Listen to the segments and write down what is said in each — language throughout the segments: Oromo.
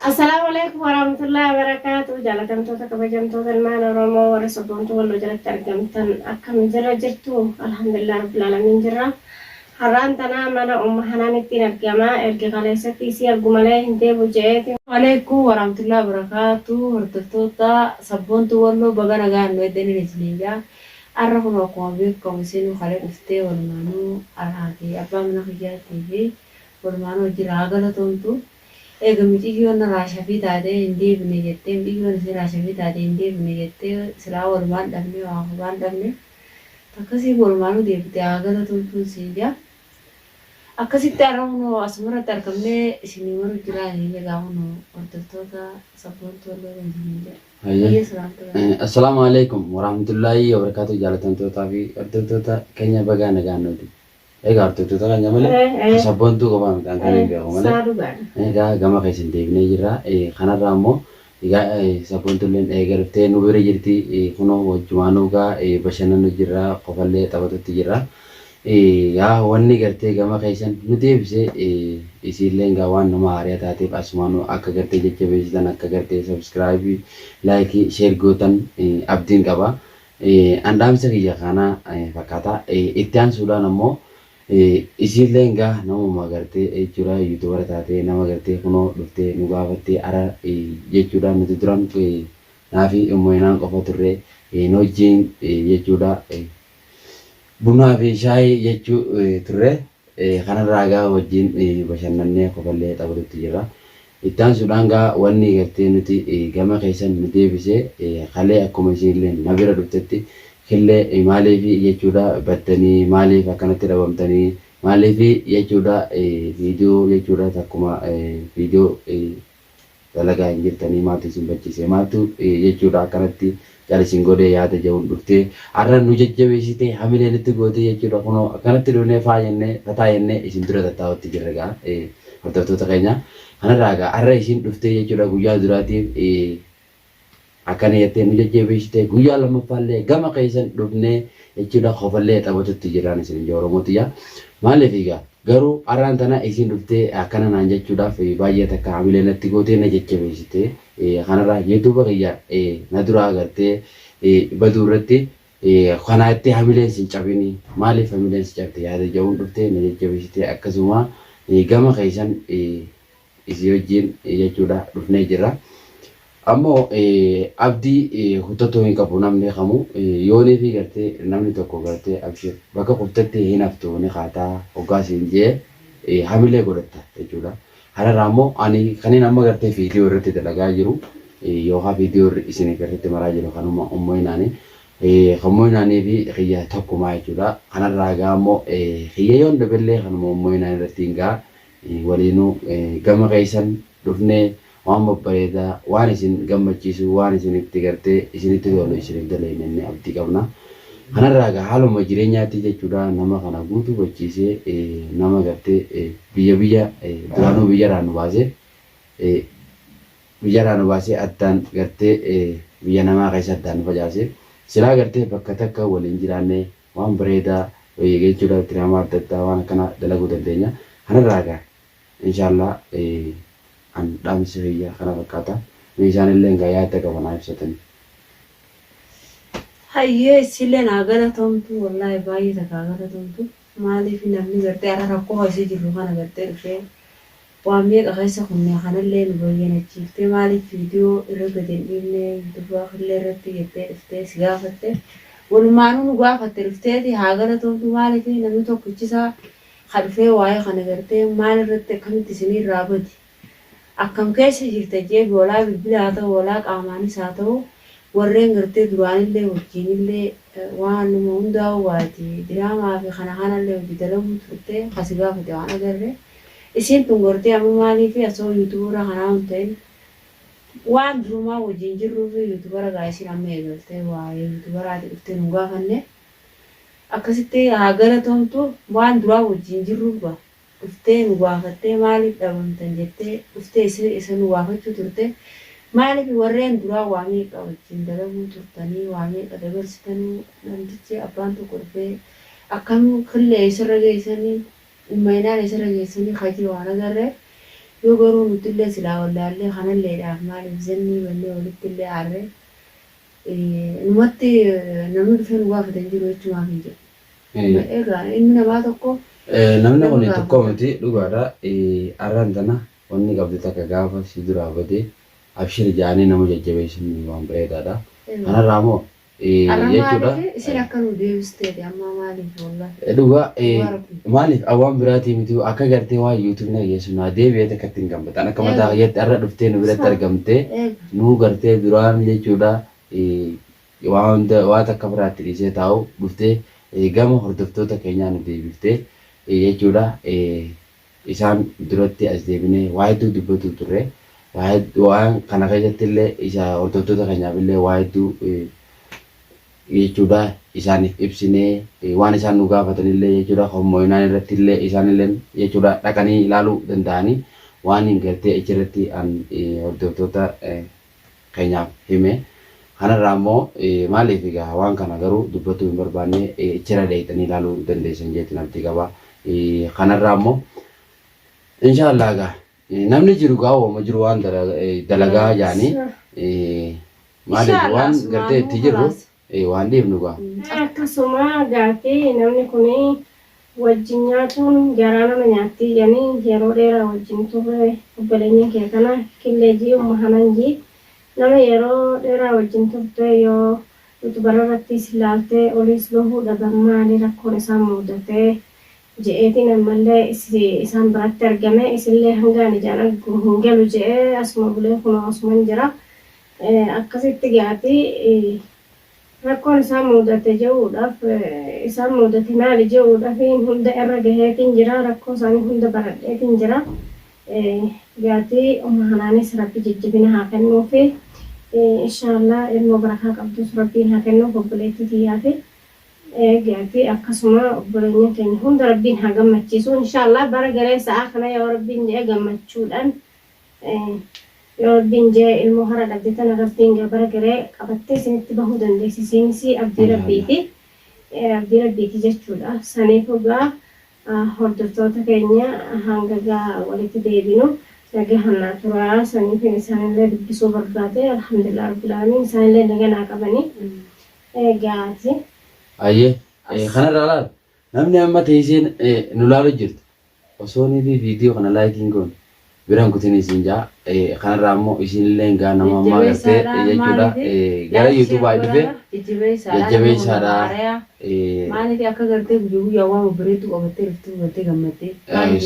Assalaamu Aleykum Warahamatullahi Wabarakaatu Jaalatamtoota Kabajamtoota Ilmaan Oromoo Warri Sabboontuu Walloo Jalatti Argamtan Akkam Jirra Jirtu Alhamdulillah Rabbil Alamiin Jirra Har'aan Tanaa Mana Umma Hanaanittiin Argama Erga Kaleessatti Isii Argu Malee Hin Deebu Je'eeti Aleykum Warahamatullahi Wabarakaatu Hordoftoota Sabboontuu Walloo Baga Nagaan Nu Eddaniin Isiniin Ja'a Har'a Kunoo Akkuma Beekkamu Isiinuu Kalee Dhuftee Walumaanuu Anaa Fi Abbaa Mana Kiyyaattii Fi Walumaanuu Wajjin Haa Galatoomtu Eega miciyyoon Raashafii taatee hin deebine jettee miciyyoon isii Raashafii taatee hin deebine jettee silaa walumaan dhabnee waa hubaan dhabne takkasii walumaanuu deebitee haa galatuu lchuun siin jaa akkasitti arra kunoo asumarratti argamnee isinii maruu jiraa isiniin jaa egaa kunoo hordoftoota sabboontuu walloo kan isiniin jaa Hayyee. hayyee salaamtu Eh, rabbii. Assalaamu alaikum warahmatullaahi wabarakaatu jaalatamtootaa fi hordoftoota keenya bagaa nagaan nuuti Egaa hordoftoota keenya malee Eh, eh. kan sabboontuu qofaa miti an kan hin beeku malee. Saa dhugaadha. Egaa gama keessan deebinee jirra. Eh, Kanarraa immoo egaa eh, sabboontuulleen eega dhuftee nu bira jirti. Eh, Kunoo wajjumaa nu gaa eh, bashannanu jirra qofallee taphatutti jirra. Eh, Yaa wanni gartee gama keessan nu deebisee eh, isiilleen gaa waan nama haariya taateef asumaanuu akka gartee jajjabeessitan akka gartee sabiskiraayibii laayikii sheer gootan eh, abdiin qaba. An dhaamsa kiyya kana fakkaata. Itti aansuudhaan ammoo isiilleen gaa namuma gartee jechuudha yuutubara taatee nama gartee kunoo dhuftee nu gaafattee ara jechuudha nuti duran naafi mo'inaan qofa turre nu wajjin jechuudha bunaa fi shaayii jechuu turre Kanarraa egaa wajjin bashannannee kofallee taphatutti jirra. Itti aansuudhaan egaa wanni gartee nuti gama keessan nu deebise kalee akkuma isiinilleen na bira dhuftetti killee maaliif jechuudha baddanii maaliif akkanatti dhabamtanii maaliif jechuudha viidiyoo jechuudha takkuma viidiyoo dalagaa hin jirtanii maaltu isin bachise maaltu jechuudha akkanatti cal isin godhee yaada ja'uun dhuftee arra nu jajjabeessitee hamilee nutti gootee jechuudha kunoo akkanatti dhufnee faa jennee fataa jennee isin dura tattaa'utti jirra gaa hordoftoota keenya kanarraa gaa arra isin dhuftee jechuudha guyyaa duraatiif Akkana jettee nu jajjabeessite guyyaa lammaffaallee gama keessan dhufnee jechuudha kofallee taphatutti jirraan isin ija Oromoo tiyyaa. Maaliif egaa garuu arraan tana isin dhuftee akkana naan jechuudhaaf baay'ee takka hamilee natti gootee na jajjabeessite. Kanarraa YouTube kiyya na duraa agartee baduu irratti kanaa itti hamileen sin cabini maaliif hamileen si cabde yaada ja'uun dhuftee na jajjabeessite akkasuma gama keessan Isii wajjiin jechuudha dhufnee jirra. Ammoo abdii kutatuu hin qabu namni kamuu yoonii fi gartee namni tokko gartee abshir bakka kuftetti hin haftu ni kaataa hoggaa siin jee hamilee godhatta jechuudha. Kanarraa ammoo ani kanin amma gartee viidiyoo irratti dalagaa jiru yookaan viidiyoo irri isin garratti maraa jiru kanuma ummoyinaani kan moyinaanii fi kiyya tokkumaa jechuudha. Kanarraa gaa ammoo kiyya yoon dhabellee kanuma ummoyinaan irratti hin gaa Waliinuu gama keessan dhufnee waan babbareedaa, waan isin gammachiisu, waan isinitti gartee isinitti tolu isiniif daleyna jennee abdii qabna. Kanarraa egaa haaluma jireenyaatti jechuudha nama kana guutu hubachiisee nama gartee biyya biyya duraanuu biyyarraa nu baasee biyyarraa nu baasee addaan gartee biyya namaa keessa addaan nu facaase silaa gartee bakka takka waliin jiraannee Waan bareedaa wayii egaa jechuudha diraamaa adda addaa waan akkanaa dalaguu dandeenya. Kanarraa egaa inshaallaa an dhaamsi kiyya kana fakkaata. Mee isaanilleen egaa yaadda qaban haa ibsatanii. Hayyee issiilleen haa galatomtu wallahi baay'ee takka haa galatomtu maaliif namni gartee ara rakkoo keessa jirru kana gartee dhufee. Waa meeqa keessa kunnee kanallee nu bayyanachiiftee maaliif video irra gad hin dhiifne yutuba killee irratti jettee dhuftee si gaafatte walumaanuu nu gaafatte dhufteeti haa galatoomtu maaliif namni tokkichi isaa ka dhufee waa'ee kana gartee maal irratti akkamitti isinii irraa bade akkam keessa jirta jeef walaa bilbila haa ta'u walaa qaamaanis haa ta'u warreen gartee duraanillee wajjiinillee waanuma hundaa'uu waati diraamaa fi kana kanallee wajji dalaguu turte ka si gaafate waan agarre Isiin tun gortee amma maaliifi asoo yutuburra kanaa hun ta'in waan durumaa wajjiin jirruufi yutubara gaa isiin amma eegaltee waa'ee yutubaraati dhuftee nun gaafanne akkasitti haa galatoomtu waan duraa wajjiin jirruuf gaa dhuftee nu gaafattee maaliif dhabamtan jettee dhuftee isa nu gaafachuu turte maaliifi warreen duraa waa meeqa wajjiin dalaguu turtanii waa meeqa dabarsitanuu namtichi abbaan tokko dhufee akkam killee eessarra geessanii Ummaynaan isirra geessanii kajii waan agarreef, yoo garuu nuttillee silaa wallaallee kanalleedhaaf maaliif zannii bannee walittillee aarre, numatti namni dhufee nu gaafate hin jiru jechumaafii jedhe. Amma egaa ilmi namaa tokko Namni nama kuni tokko gaafata. miti dhugaadha. Arraan tana wanni qabdu takka gaafa si duraa badee abshir ja'anii nama jajjabeessuun waan bareedaadha. Egaa. Kanarraa moo jechuudha. Maaliif isin akka nu deebisteeti ammaa maaliif wallah. Dhugaa maaliif awwaan biraatii miti akka gartee waan YouTube na geessu naa deebi'ee takka ittiin gammadan akka mataa fayyatti har'a dhuftee nu biratti argamtee nuu gartee duraan jechuudha waa hunda waa takka biraatti dhiisee taa'u dhuftee gama hordoftoota keenyaa nu deebiftee jechuudha Isaan duratti as deebinee waa hedduu dubbatuu turre. Waa hed, waan kana keessatti illee isa hordoftoota keenyaaf illee waa hedduu jechuu dha isaaniif ibsinee waan isaan nu gaafatan illee jechuu dha kan moo'inaan irratti illee isaan illeen jechuu dha dhaqanii ilaaluu danda'anii waan gartee achi irratti an hordoftoota keenyaaf hime. Kana irraa immoo maaliif egaa waan kana garuu dubbachuu hin barbaanne ichirra deebitanii ilaaluu dandeessan jeetiin abdii qaba. Kana irraa immoo inshaa Allah egaa namni jiru egaa waama jiru waan dalagaa jaanii maaliif waan gartee itti jirru ee waan dhiifnu gaa. Akkasuma gaaffi namni kun wajjin nyaatuun garaa nama nyaattii jani yeroo dheera wajjin turre obbolenyin kee kana killee jii umma hanan jii nama yeroo dheraa wajjin turte yoo yutubar irrattiis laalte oliis bahuu dhaban maali rakkoon isaan muudate je'eetiin ammalle isaan biratti argame isillee hangaan ijaan argu hin galu je'e asuma bulee kunoo asuman jira akkasitti gaati rakkoon isaan muudate je'uudhaaf isaan muudate maali je'uudhafiin hunda irra gaheetiin jira rakkoo isaanii hunda baradheetiin jira gaati umma hanaanis rabbi jajjabina haa kennuufi inshaallah ilmoo barakaa qabdus rabbiin haa kennuuf obboleettii tiyyaafi gaati akkasuma obboleeyyan keenya hunda rabbiin haa gammachiisu inshaallah bara galee sa'aa kana yoo rabbiin je'e gammachuudhaan Yoo Rabbiin jee ilmoo hara dhabde tana Rabbiin gaa bara gare qabattee sinitti bahuu dandeessa isiinis abdii Rabbiiti abdii Rabbiiti jechuudha saniifu gaa hordoftoota keenya hanga gaa walitti deebinu nagahan naa turaa saniifin isaanillee dubbisuu barbaade alhamdulillah rabbil aalamiin isaanillee naga naa qabanii gaati. Hayyee kanarraa laal Namni amma teeysee nu laalu jirtu osoo nifi video kana like hin goone bira hin kutini isiin jaa kanarraa ammoo isiinilleen gaa nama ammaa gartee jechuudha gara youtube i dhufe jajjabeeysaadha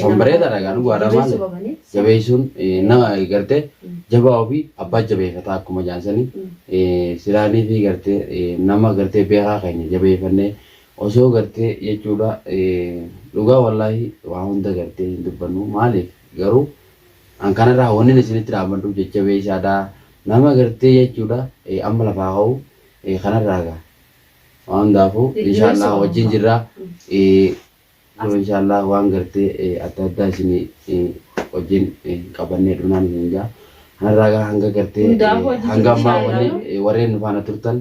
san bareedaadha gaa dhugaadha maale jabeeysuun nama gartee jabaa ofii abbaa jabeeyfataa akkuma jaansani silaa nifi gartee nama gartee beekaa keenya jabeeyfannee Osoo gartee jechuudha dhugaa wallaahi waa hunda gartee hin dubbannu maaliif garuu an kanarraa wannin isinitti dhaammadhu jajjabeessaadha nama gartee jechuudha amma lafaa ka'u kanarraa gaa waa hundaafuu inshaallaah wajjin jirra kun inshaallaah waan gartee adda addaa isinii wajjin qabannee dhufnaan isiniin jaa kanarraa gaa hanga gartee hanga ammaa warreen nu faana turtan